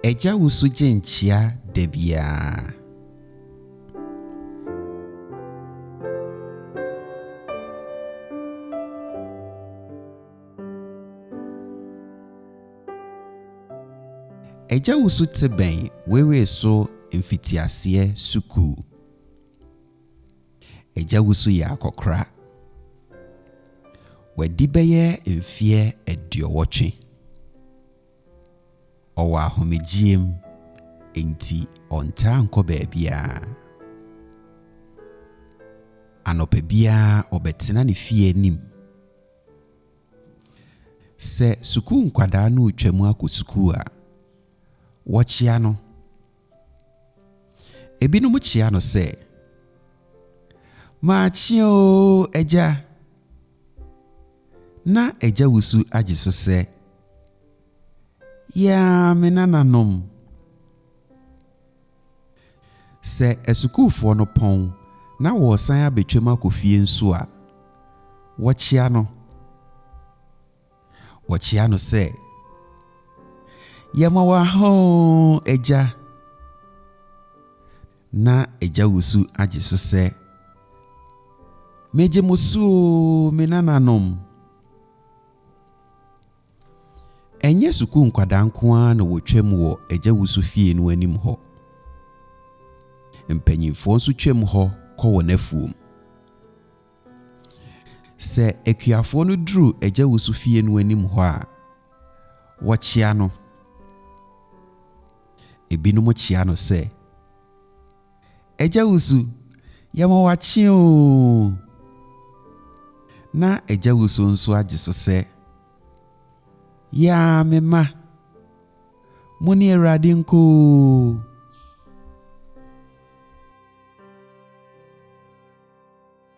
Agya wo so gye nkyia da biara. Agya wo so te bɛn wewee so mfitiaseɛ sukuu. Agya Wusu yɛ akɔkora. Wadi bɛyɛ mfeɛ aduɔwɔtwe. Ɔwɔ ahomegyeɛ mu, enti ɔntaa nkɔ baabiara. Anɔpa biara ɔbɛtena ne fie anim. Sɛ sukuu nkwadaa no retwam akɔ sukuu a, wɔkyea no. Ebinom kyea no sɛ, Makye oo, Agya! Ná Agya Wusu agye so sɛ, Yaa, me nananom! Sɛ asukuufoɔ no pɔn na wɔresan abɛtwam akɔ fie nso a, wɔkyea no. Wɔkyea no sɛ, Yɛma wo ahõ, agya! Na agya wusu agye so sɛ, Megye mo so oo, me nananom! Ɛnyɛ sukuu nkwadaa nko ara na wɔtwam wɔ agya wusu fie no anim hɔ. Mpanimfoɔ nso twam hɔ kɔ wɔn afuom. Sɛ akuafoɔ no duru Agya Wusu fie no anim hɔ a, wɔkyea no. Ebinom kyea no sɛ, Agya Wusu, yɛma wo akye oo! Na Agya Wusu nso agye so sɛ, Yaa me mma, mo ne Awurade nkɔ oo!